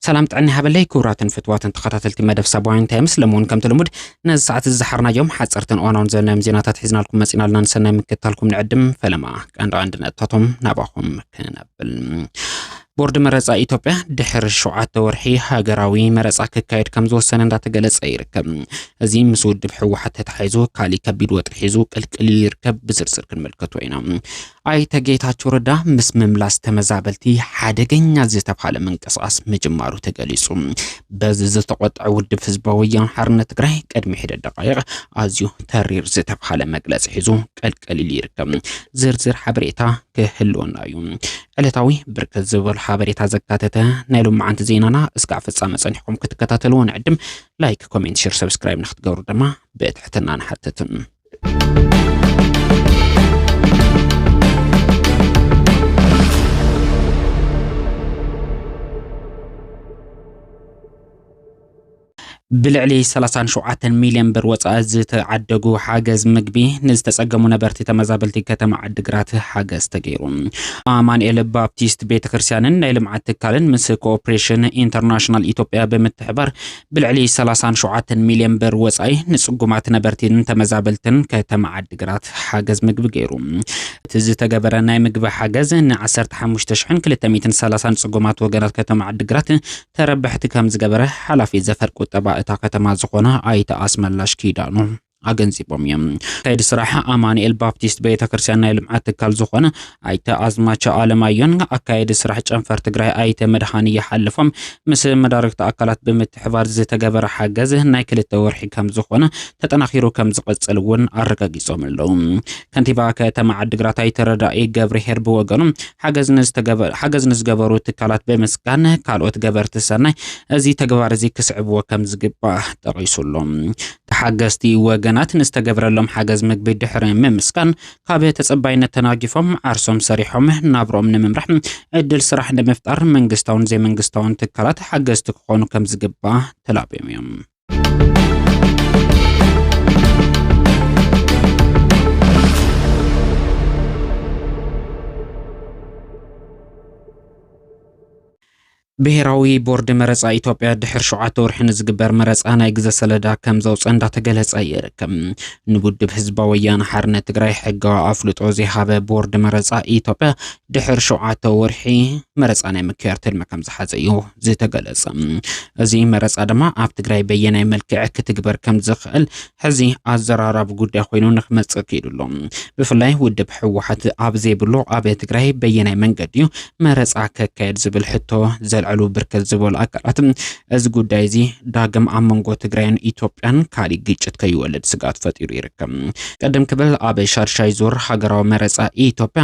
ሰላም ጥዕና ሃበለይ ክቡራትን ፍትዋትን ተኸታተልቲ መደብ ሳባውያን ታይምስ ለምውን ከምቲ ልሙድ ነዚ ሰዓት እዚ ዝሓርናዮም ሓፀርትን እዋናውን ዘለናዮም ዜናታት ሒዝናልኩም መፂና ኣለና ንሰናይ ምክትታልኩም ንዕድም ፈለማ ቀንዲ ቀንዲ ነጥታቶም ናባኹም ክነብል ቦርድ መረፃ ኢትዮጵያ ድሕሪ ሸውዓተ ወርሒ ሃገራዊ መረፃ ክካየድ ከም ዝወሰነ እንዳተገለፀ ይርከብ። እዚ ምስ ውድብ ህወሓት ተታሒዙ ካሊእ ከቢድ ወጥሪ ሒዙ ቅልቅል ኢሉ ይርከብ። ብዝርዝር ክንምልከቶ ኢና። ኣይተ ጌታቸው ረዳ ምስ ምምላስ ተመዛበልቲ ሓደገኛ ዝተብሃለ ምንቅስቓስ ምጅማሩ ተገሊፁ። በዚ ዝተቆጠዐ ውድብ ህዝባዊ ወያነ ሓርነት ትግራይ ቅድሚ ሒደት ደቃይቕ ኣዝዩ ተሪር ዝተብሃለ መግለፂ ሒዙ ቅልቅል ኢሉ ይርከብ። ዝርዝር ሓበሬታ ክህልወና እዩ። ዕለታዊ ብርክት ዝበሉ ሓበሬታ ዘካተተ ናይ ሎማዓንቲ ዜናና እስካዕ ፍጻመ ጸኒሕኩም ክትከታተልዎ ንዕድም። ላይክ፣ ኮሜንት፣ ሼር፣ ሰብስክራይብ ንክትገብሩ ድማ ብትሕትና ንሓትትም። ብልዕሊ ሰላሳን ሸውዓተን ሚልዮን ብር ወፃኢ ዝተዓደጉ ሓገዝ ምግቢ ንዝተፀገሙ ነበርቲ ተመዛበልቲ ከተማ ዓዲግራት ሓገዝ ተገይሩ። ኣማንኤል ባፕቲስት ቤተ ክርስቲያንን ናይ ልምዓት ትካልን ምስ ኮኦፕሬሽን ኢንተርናሽናል ኢትዮጵያ ብምትሕባር ብልዕሊ ሰላሳን ሸውዓተን ሚልዮን ብር ወፃኢ ንፅጉማት ነበርቲን ተመዛበልትን ከተማ ዓዲግራት ሓገዝ ምግቢ ገይሩ። እቲ ዝተገበረ ናይ ምግቢ ሓገዝ ን ዓሰርተ ሓሙሽተ ሽሕን ክልተ ሚእትን ሰላሳን ፅጉማት ወገናት ከተማ ዓዲግራት ተረባሕቲ ከምዝገበረ ሓላፊ ዘፈር ቁጠባ እታ ከተማ ዝኾነ ኣይተ ኣስመላሽ ኪዳኑ ኣገንዚቦም እዮም። ከይዲ ስራሕ ኣማኑኤል ባፕቲስት ቤተክርስትያን ናይ ልምዓት ትካል ዝኾነ ኣይተ ኣዝማቸ ኣለማዮን ኣካየዲ ስራሕ ጨንፈር ትግራይ ኣይተ መድሃኒ ይሓልፎም ምስ መዳርግቲ ኣካላት ብምትሕባር ዝተገበረ ሓገዝ ናይ ክልተ ወርሒ ከምዝኾነ ተጠናኺሩ ከምዝቕፅል እውን ኣረጋጊፆም ኣለዉ። ከንቲባ ከተማ ዓዲግራት ኣይተ ረዳኢ ገብርሄር ብወገኑ ሓገዝ ንዝገበሩ ትካላት ብምስጋን ካልኦት ገበርቲ ሰናይ እዚ ተግባር እዚ ክስዕብዎ ከም ዝግባእ ጠቒሱሉ። ተሓገዝቲ ወገናት ንዝተገብረሎም ሓገዝ ምግቢ ድሕሪ ምምስጋን ካብ ተፀባይነት ተናጊፎም ዓርሶም ሰሪሖም ናብርኦም ንምምራሕ ዕድል ስራሕ ንምፍጣር መንግስታውን ዘይመንግስታውን ትካላት ሓገዝቲ ክኾኑ ከም ዝግባእ ተላብዮም እዮም። ብሄራዊ ቦርድ መረፃ ኢትዮጵያ ድሕሪ ሸውዓተ ወርሒ ንዝግበር መረፃ ናይ ግዘ ሰለዳ ከም ዘውፀ እንዳተገለፀ ይርከብ። ንውድብ ህዝባዊ ወያነ ሓርነት ትግራይ ሕጋዊ ኣፍልጦ ዘይሃበ ቦርድ መረፃ ኢትዮጵያ ድሕሪ ሸውዓተ ወርሒ መረፃ ናይ ምክያድ ትልሚ ከም ዝሓዘ እዩ ዝተገለጸ እዚ መረፃ ድማ ኣብ ትግራይ በየናይ መልክዕ ክትግበር ከም ዝኽእል ሕዚ ኣዘራራቢ ጉዳይ ኮይኑ ንክመፅእ ክኢሉ ኣሎ። ብፍላይ ውድብ ህወሓት ኣብ ዘይብሉ ኣብ ትግራይ በየናይ መንገዲ እዩ መረፃ ከካየድ ዝብል ሕቶ ዘልዕሉ ብርክት ዝበሉ ኣካላት እዚ ጉዳይ እዚ ዳግም ኣብ መንጎ ትግራይን ኢትዮጵያን ካሊእ ግጭት ከይወልድ ስጋት ፈጢሩ ይርከብ። ቅድም ክብል ኣብ ሻድሻይ ዙር ሃገራዊ መረፃ ኢትዮጵያ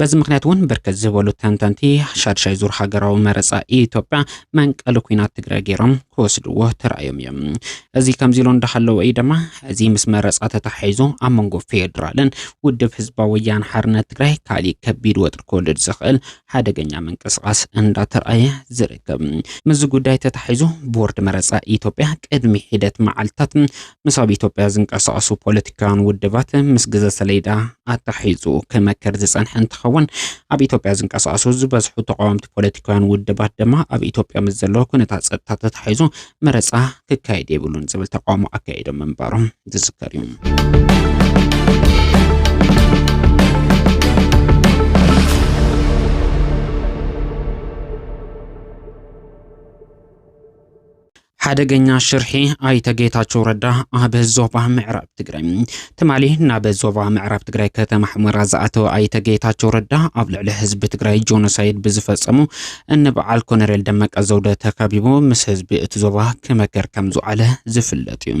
በዚ ምኽንያት እውን ብርክት ዝበሉ ተንተንቲ ሻድሻይ ዙር ሃገራዊ መረፃ ኢትዮጵያ መንቀሊ ኩናት ትግራይ ገይሮም ክወስድዎ ተራእዮም እዮም። እዚ ከምዚ ኢሎ እንዳሃለወ እዩ ድማ እዚ ምስ መረፃ ተተሓሒዙ ኣብ መንጎ ፌዴራልን ውድብ ህዝባዊ ወያነ ሓርነት ትግራይ ካሊእ ከቢድ ወጥሪ ክወልድ ዝኽእል ሓደገኛ ምንቅስቓስ እንዳተርኣየ ዝርከብ። ምስዚ ጉዳይ ተተሓሒዙ ቦርድ መረፃ ኢትዮጵያ ቅድሚ ሒደት መዓልትታት ምስ ኣብ ኢትዮጵያ ዝንቀሳቐሱ ፖለቲካውያን ውድባት ምስ ግዘ ሰሌዳ ኣታሒዙ ክመክር ዝፀንሐ እንትኸውን ኣብ ኢትዮጵያ ዝንቀሳቐሱ ዝበዝሑ ተቃወምቲ ፖለቲካውያን ውድባት ድማ ኣብ ኢትዮጵያ ምስ ዘሎ ኩነታት ፀጥታ ተታሒዙ መረፃ ክካየድ የብሉን ዝብል ተቃውሞ ኣካይዶም ምንባሮም ዝዝከር እዩ። ሓደገኛ ሽርሒ ኣይተ ጌታቸው ረዳ ኣብ ዞባ ምዕራብ ትግራይ ትማሊ ናብ ዞባ ምዕራብ ትግራይ ከተማ ሕመራ ዝኣተወ ኣይተ ጌታቸው ረዳ ኣብ ልዕሊ ህዝቢ ትግራይ ጆኖሳይድ ብዝፈፀሙ እንበዓል ኮነሬል ደመቀ ዘውደ ተከቢቡ ምስ ህዝቢ እቲ ዞባ ክመከር ከም ዝውዓለ ዝፍለጥ እዩ።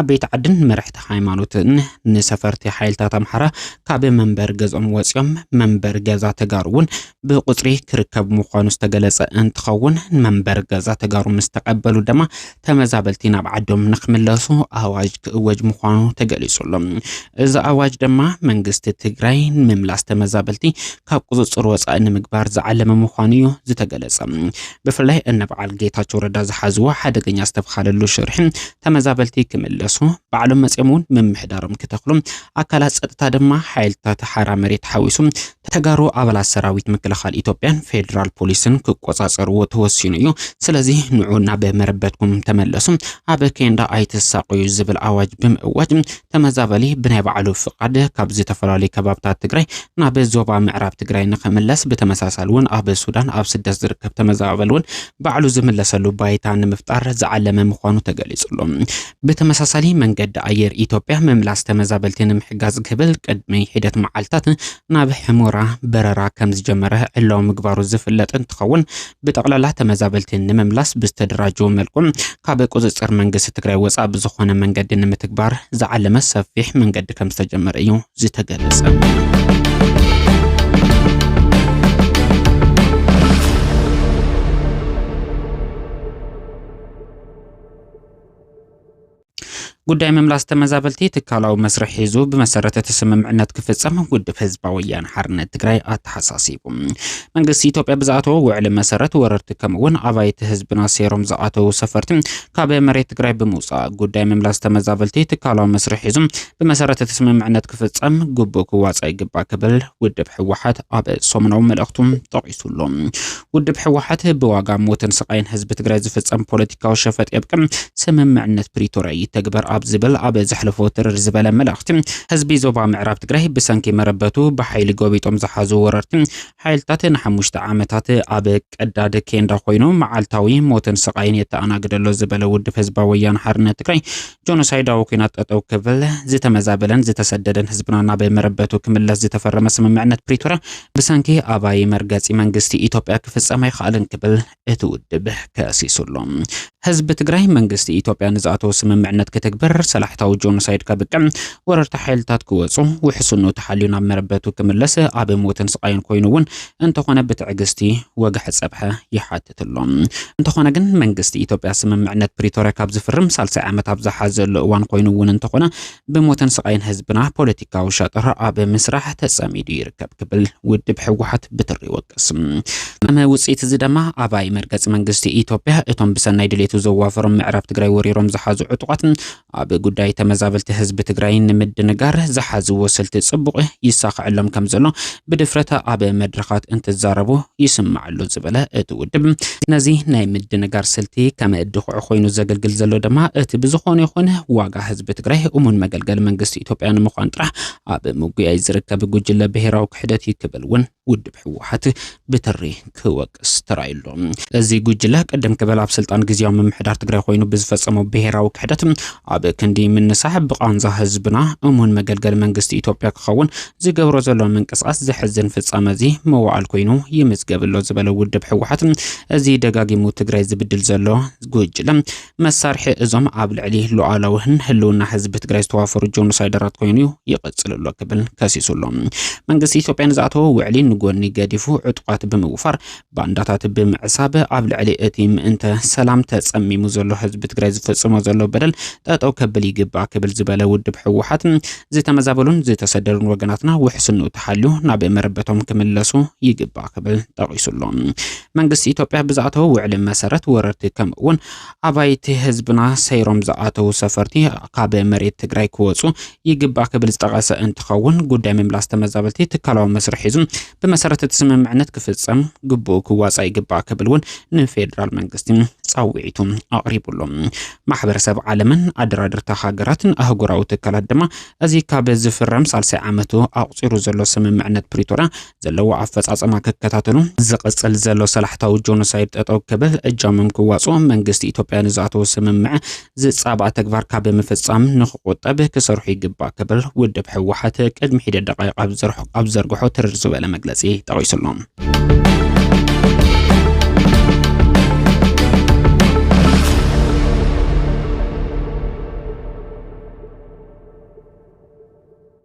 ዓበይቲ ዓድን መራሕቲ ሃይማኖትን ንሰፈርቲ ሓይልታት ኣምሓራ ካብ መንበሪ ገዝኦም ወፂኦም መንበሪ ገዛ ተጋሩ እውን ብቁፅሪ ክርከብ ምዃኑ ዝተገለፀ እንትኸውን መንበሪ ገዛ ተጋሩ ምስ ተቐበሉ ድማ ተመዛበልቲ ናብ ዓዶም ንክምለሱ ኣዋጅ ክእወጅ ምዃኑ ተገሊፁ ኣሎ። እዚ ኣዋጅ ድማ መንግስቲ ትግራይ ንምምላስ ተመዛበልቲ ካብ ቁፅፅር ወፃኢ ንምግባር ዝዓለመ ምዃኑ እዩ ዝተገለፀ። ብፍላይ እነ በዓል ጌታቸው ረዳ ዝሓዝዎ ሓደገኛ ዝተብሃለሉ ሽርሒ ተመዛበልቲ ክምለሱ ባዕሎም መፅኦም እውን ምምሕዳሮም ክተኽሉ ኣካላት ፀጥታ ድማ ሓይልታት ሓራ መሬት ሓዊሱ ተጋሩ ኣባላት ሰራዊት ምክልኻል ኢትዮጵያን ፌዴራል ፖሊስን ክቆፃፀርዎ ተወሲኑ እዩ። ስለዚ ንዑ ናብ መረበትኩም ተመለሱ፣ ኣብ ኬንዳ ኣይትሳቀዩ ዝብል ኣዋጅ ብምእዋጅ ተመዛበሊ ብናይ ባዕሉ ፍቓድ ካብ ዝተፈላለዩ ከባብታት ትግራይ ናብ ዞባ ምዕራብ ትግራይ ንኽምለስ ብተመሳሳሊ እውን ኣብ ሱዳን ኣብ ስደት ዝርከብ ተመዛበሊ እውን ባዕሉ ዝምለሰሉ ባይታ ንምፍጣር ዝዓለመ ምዃኑ ተገሊጹ ኣሎ። ብተመሳሳሊ መንገዲ ኣየር ኢትዮጵያ ምምላስ ተመዛበልቲ ንምሕጋዝ ክብል ቅድሚ ሒደት መዓልታት ናብ ሕሞራ በረራ ከምዝጀመረ ዕላዊ ምግባሩ ዝፍለጥ እንትኸውን ብጠቕላላ ተመዛበልቲ ንምምላስ ብዝተደራጀወ መልኩ ካብ ቁፅፅር መንግስቲ ትግራይ ወፃእ ብዝኾነ መንገዲ ንምትግባር ዝዓለመ ሰፊሕ መንገዲ ከም ዝተጀመረ እዩ ዝተገለፀ። ጉዳይ ምምላስ ተመዛበልቲ ትካላዊ መስርሕ ሒዙ ብመሰረት እቲ ስምምዕነት ክፍፀም ውድብ ህዝባዊ ወያነ ሓርነት ትግራይ ኣተሓሳሲቡ። መንግስቲ ኢትዮጵያ ብዝኣተዎ ውዕሊ መሰረት ወረርቲ ከምኡውን ኣባይቲ ህዝብና ሴሮም ዝኣተዉ ሰፈርቲ ካብ መሬት ትግራይ ብምውፃእ ጉዳይ ምምላስ ተመዛበልቲ ትካላዊ መስርሕ ሒዙ ብመሰረት እቲ ስምምዕነት ክፍፀም ግቡእ ክዋፃእ ይግባእ ክብል ውድብ ህወሓት ኣብ ሰሙናዊ መልእኽቱ ጠቒሱሉ። ውድብ ሕወሓት ብዋጋ ሞትን ስቓይን ህዝቢ ትግራይ ዝፍፀም ፖለቲካዊ ሸፈጥ የብቅዕ፣ ስምምዕነት ፕሪቶርያ ይተግበር ኣብ ዝብል ኣብ ዘሕለፎ ትርር ዝበለ መልእኽቲ ህዝቢ ዞባ ምዕራብ ትግራይ ብሰንኪ መረበቱ ብሓይሊ ጎቢጦም ዝሓዙ ወረርቲ ሓይልታት ንሓሙሽተ ዓመታት ኣብ ቀዳድ ኬንዳ ኮይኑ መዓልታዊ ሞትን ስቓይን የተኣናግደሎ ዝበለ ውድብ ህዝባዊ ወያነ ሓርነት ትግራይ ጆኖሳይዳዊ ኩናት ጠጠው ክብል፣ ዝተመዛበለን ዝተሰደደን ህዝብና ናብ መረበቱ ክምለስ ዝተፈረመ ስምምዕነት ፕሪቶርያ ብሰንኪ ኣባይ መርገጺ መንግስቲ ኢትዮጵያ ክፍጸም ኣይክኣልን ክብል እቲ ውድብ ከሲሱ ኣሎ። ህዝቢ ትግራይ መንግስቲ ኢትዮጵያ ንዝኣተዎ ስምምዕነት ክትግብር፣ ሰላሕታዊ ጆኖሳይድ ከብቅዕ፣ ወረርቲ ሓይልታት ክወጹ፣ ውሕስኑ ተሓልዩ ናብ መረበቱ ክምለስ፣ ኣብ ሞትን ስቓይን ኮይኑ እውን እንተኾነ ብትዕግስቲ ወግሐ ጸብሐ ይሓትት። የካትት ኣሎ። እንተኾነ ግን መንግስቲ ኢትዮጵያ ስምምዕነት ፕሪቶርያ ካብ ዝፍርም ሳልሳይ ዓመት ኣብ ዝሓዘሉ እዋን ኮይኑ እውን እንተኾነ ብሞትን ስቓይን ህዝብና ፖለቲካዊ ሸጥራ ኣብ ምስራሕ ተጸሚዱ ይርከብ ክብል ውድብ ህወሓት ብትሪ ይወቅስ። ከም ውጽኢት እዚ ድማ ኣባይ መርገጺ መንግስቲ ኢትዮጵያ እቶም ብሰናይ ድሌቱ ዘዋፈሮም ምዕራብ ትግራይ ወሪሮም ዝሓዙ ዕጡቓት ኣብ ጉዳይ ተመዛበልቲ ህዝቢ ትግራይ ንምድንጋር ዝሓዝዎ ስልቲ ጽቡቕ ይሳኸዐሎም ከም ዘሎ ብድፍረት ኣብ መድረኻት እንትዛረቡ ይስማዕሉ ዝበለ እቲ ውድብ ነዚ ናይ ምድንጋር ስልቲ ከም ድኹዕ ኮይኑ ዘገልግል ዘሎ ድማ እቲ ብዝኾነ ይኹን ዋጋ ህዝቢ ትግራይ እሙን መገልገሊ መንግስቲ ኢትዮጵያ ንምዃን ጥራሕ ኣብ ምጉያይ ዝርከብ ጉጅለ ብሔራዊ ክሕደት እዩ ክብል እውን ውድብ ህወሓት ብትሪ ክወቅስ ተራእዩ ኣሎ። እዚ ጉጅለ ቅድም ክበል ኣብ ስልጣን ግዝያዊ ምምሕዳር ትግራይ ኮይኑ ብዝፈፀሞ ብሄራዊ ክሕደት ኣብ ክንዲ ምንሳሕ ብቓንዛ ህዝብና እሙን መገልገሊ መንግስቲ ኢትዮጵያ ክኸውን ዝገብሮ ዘሎ ምንቅስቓስ ዘሕዝን ፍፃመ እዚ መዋዕል ኮይኑ ይምዝገብ ኣሎ ዝበለ ውድብ ህወሓት እዚ ደጋጊሙ ትግራይ ዝብድል ዘሎ ጉጅለ መሳርሒ እዞም ኣብ ልዕሊ ሉዓላዊን ህልውና ህዝቢ ትግራይ ዝተዋፈሩ ጆኖሳይደራት ኮይኑ እዩ ይቕፅል ኣሎ ክብል ከሲሱ ኣሎ። መንግስቲ ኢትዮጵያ ንዝኣተዎ ውዕሊ ንጎኒ ገዲፉ ዕጡቓት ብምውፋር ባንዳታት ብምዕሳብ ኣብ ልዕሊ እቲ ምእንተ ሰላም ተፀሚሙ ዘሎ ህዝቢ ትግራይ ዝፍፅሞ ዘሎ በደል ጠጠው ከብል ይግባእ ክብል ዝበለ ውድብ ህወሓት ዝተመዛበሉን ዝተሰደዱን ወገናትና ውሕስንኡ ተሓልዩ ናብ መረበቶም ክምለሱ ይግባእ ክብል ጠቒሱ ኣሎ። መንግስቲ ኢትዮጵያ ብዝኣተወ ውዕሊ መሰረት ወረርቲ ከምኡ እውን ኣባይቲ ህዝብና ሰይሮም ዝኣተዉ ሰፈርቲ ካብ መሬት ትግራይ ክወፁ ይግባእ ክብል ዝጠቐሰ እንትኸውን ጉዳይ ምምላስ ተመዛበልቲ ትካላዊ መስርሕ ሒዙ ብመሰረት እቲ ስምምዕነት ክፍፀም ግቡኡ ክዋፃእ ይግባእ ክብል እውን ንፌዴራል መንግስቲ ፃውዒቱ ኣቕሪቡሉ ማሕበረሰብ ዓለምን ኣደራድርታ ሃገራትን ኣህጉራዊ ትካላት ድማ እዚ ካብ ዝፍረም ሳልሳይ ዓመቱ ኣቑፂሩ ዘሎ ስምምዕነት ፕሪቶርያ ዘለዎ ኣፈጻጸማ ክከታተሉ ዝቕጽል ዘሎ ሰላሕታዊ ጆኖሳይድ ጠጠው ክብል እጃሞም ክዋጽኦ መንግስቲ ኢትዮጵያ ንዝኣተዎ ስምምዕ ዝጻባእ ተግባር ካብ ምፍጻም ንክቆጠብ ክሰርሑ ይግባእ ክብል ውድብ ህወሓት ቅድሚ ሒደ ደቃይቕ ኣብ ዘርግሖ ትርር ዝበለ መግለጺ ጠቒሱሎ።